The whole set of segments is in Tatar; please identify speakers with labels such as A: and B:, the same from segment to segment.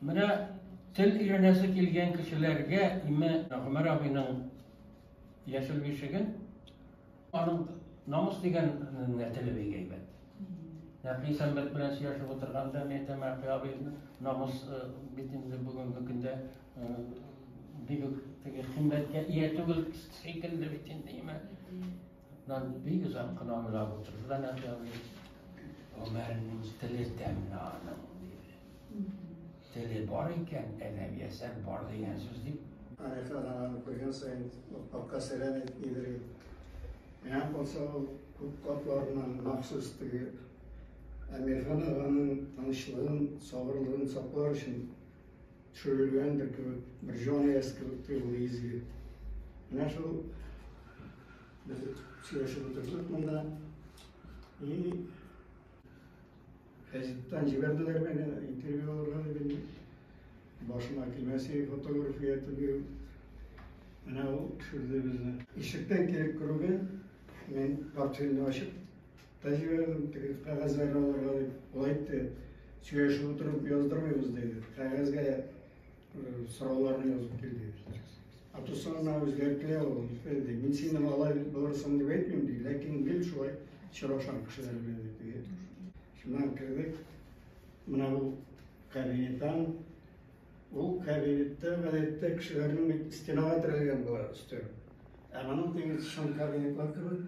A: Менә тел өйрәнәсе килгән кешеләргә име Гомәр абыйның яшел бишеген, аның намус дигән теле бик әйбәт. Нәкый сәнбәт белән сөйләшеп утырганда мин әйтәм, Әкый абый, намус бит инде бүгенге көндә бигүк теге химбәткә ия түгел шикелле бит инде, име. Нан бик озак кына уйлап утырды да Нәбиаби. Гомеренең теле тәмле аның, диде. Теле бар икән, әдәби әсәр бар дигән сүз дип. Арифа аны
B: күргән саен капка сәлам ит, нидер ит. Менә булса ул күп катларыннан махсус теге Әмирхан аганың тынычлыгын, сабырлыгын саклар өчен Төшерелгәндер кебек, бер җан иясе кебек тоелды изге. Менә шул без сөйләшеп утырдык монда. И газеттан җибәрделәр мине интервью алырга дип. Башыма килмәсе фотография төбею. Менә ул төшерде безне. Ишектән килеп керүгә, мин портфельне ачып, Тәҗрибәдән теге кәгазьләрне алырга дип ул әйтте. Сөйләшеп утырып яздырмыйбыз диде. Кәгазьгә сорауларны язып кил диде. Атусына үзгәртелә ул. Диде. Мин сине алай булырсың дип әйтмим ди, ләкин гел шулай очрашам кешеләр белән диде. Шуннан кердек. Менә бу кабинеттан ул кабинетта гадәттә кешеләрнең стенага терәлгән була өстәл. Ә моның теге шым кабинетлар кебек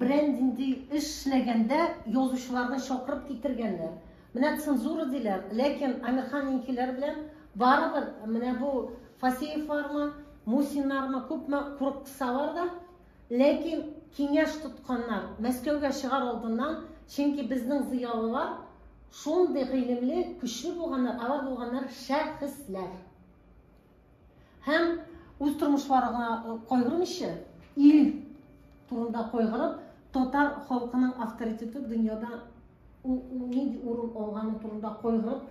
C: Берәр нинди эш эшләгәндә язучыларны чакырып китергәннәр. Менә цензура диләр, ләкин Әмирханнинкиләр белән барыбер менә бу Фасеевлармы, Мусиннармы күпме курыксалар да, ләкин киңәш тотканнар Мәскәүгә чыгар алдыннан, чөнки безнең зыялылар шундый гыйлемле, көчле булганнар, алар булганнар шәхесләр. Һәм үз тормышларына кайгырмыйча, ил турында кайгырып, татар халкының авторитеты дөньяда нинди урын алганы турында кайгырып,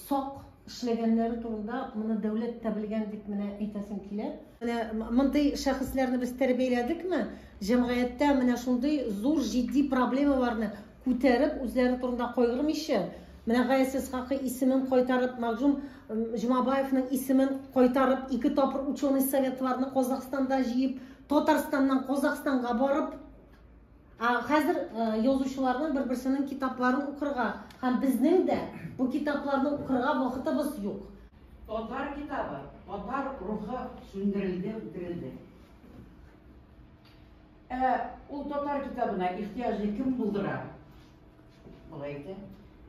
C: сак эшләгәннәре турында моны дәүләт тә белгән дип менә әйтәсем килә. Менә мондый шәхесләрне без тәрбияләдекме? Җәмгыятьтә менә шундый зур җитди проблемаларны Күтәреп, үзләре турында кайгырмыйча, менә Гаяз Исхакый исемен кайтарып, Мәгъҗүм Җомабаевның исемен кайтарып, ике тапыр ученый советларны Казахстанда җыеп, Татарстаннан Казахстанга барып, Ә хәзер язучыларның бер-берсенең китапларын укырга һәм безнең дә бу китапларны укырга вакытыбыз юк. Татар
D: китабы, татар рухы сүндерелде, үтерелде. Ә ул татар китабына ихтыяҗны кем булдыра? Болай әйтә,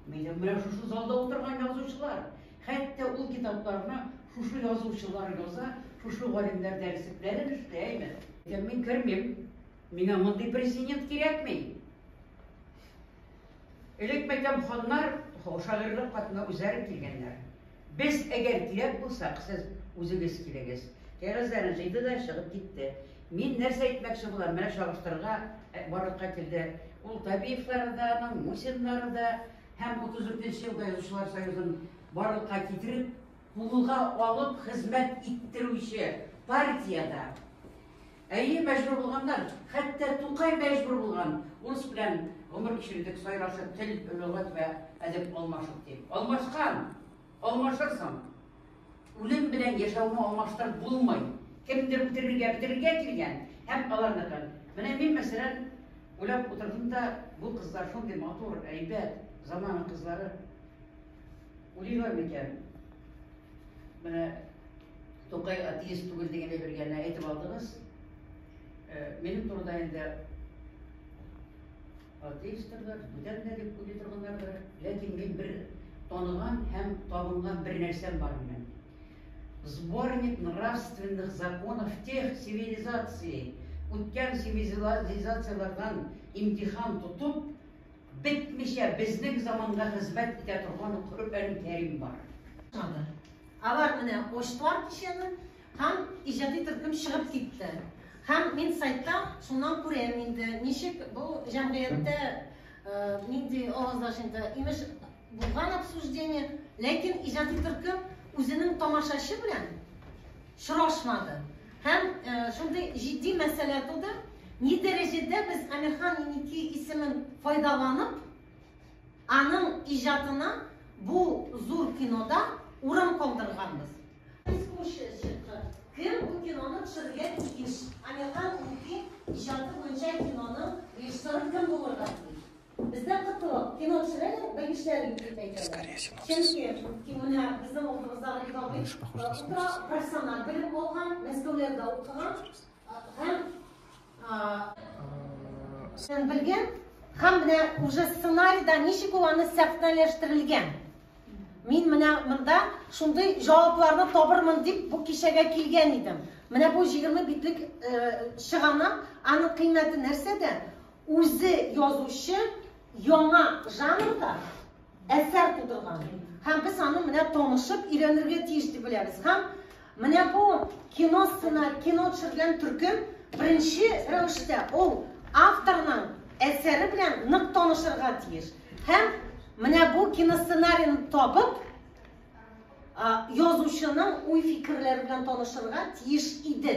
D: минем менә шушы залда утырган язучылар. Хәтта ул китапларны шушы язучылар яза, шушы галимнәр дәреслекләрен эшли, әйме? Ләкин мин кермим. Миңа мондый президент кирәкми. Элек мәйтәм ханнар шагыйрьлек катына үзләре килгәннәр. Без, әгәр кирәк булсак, сез үзегез килегез. Кәгазьләрен җыйды да чыгып китте. Мин нәрсә әйтмәкче булам, менә чагыштырырга э, барлыкка килде. Ул Табиевлары да, аның Мусиннары да һәм 34 елда язучылар союзын барлыкка китереп, кулга алып хезмәт иттерүче партиядә Әйе, мәҗбүр булганнар. Хәтта Тукай мәҗбүр булган. Урыс белән гомер кичердек, сайрашып, тел, лөгать вә әдәп алмашып, дип. Алмашкан! Алмашырсың! Үлем белән яшәүне алмаштырып булмый. Кемдер үтерергә, бетерергә килгән һәм аларныкын. Менә мин, мәсәлән, уйлап утырдым да, бу кызлар шундый матур, әйбәт, замана кызлары. Уйлыйлар микән? Менә Тукай атеист түгелдегенә бер генә әйтеп алдыгыз. Э, минем турыда инде атеистлар, бүтән дә дип уйлый торганнар да, ләкин мин бер таныган һәм табынган бер нәрсәм бар минем. Сборник нравственных законов тех цивилизаций, үткән цивилизацияләрдән имтихан тотып, Бетмичә безнең заманга хезмәт итә торган Коръән Кәрим бар. Чыгарды. Алар
C: менә ачтылар кичәне һәм иҗади төркем чыгып китте. Һәм мин сайтта шуннан күрәм инде, ничек бу җәмгыятьтә нинди авазлаш инде, имеш, булган обсуждение, ләкин иҗади төркем үзенең тамашачы белән сорашмады һәм шундый җитди мәсьәлә туды, ни дәрәҗәдә без Әмирхан Еники исемен файдаланып, аның иҗатына бу зур кинода урам калдырганбыз. Искусствочка, кем бу киноны төшерергә тиеш? Әмирхан Еники иҗаты буенча киноның режиссеры кем булырга тиеш? Бездә кытылып, кино төшерәләр, белгечләрен дип әйтәләр. Чөнки киноны безнең алдыбызда Иванович Утра профессиональ белем алган, Мәскәүләрдә укыган һәм сен белгән һәм менә уже сценарийда ничек ул аны сәхнәләштерелгән. Мин менә монда шундый җавапларны табырмын дип бу кичәгә килгән идем. Менә бу 20 битлек чыгана, аның кыйммәте нәрсәдә? Үзе язучы яңа жанрда әсәр тудырган. Һәм без аны менә танышып өйрәнергә тиеш дип беләбез. Һәм менә бу кино сцена, кино төшергән төркем беренче рәвештә ул авторның әсәре белән нык танышырга тиеш. Һәм менә бу киносценарийны табып, язучының уй-фикерләре белән танышырга тиеш иде.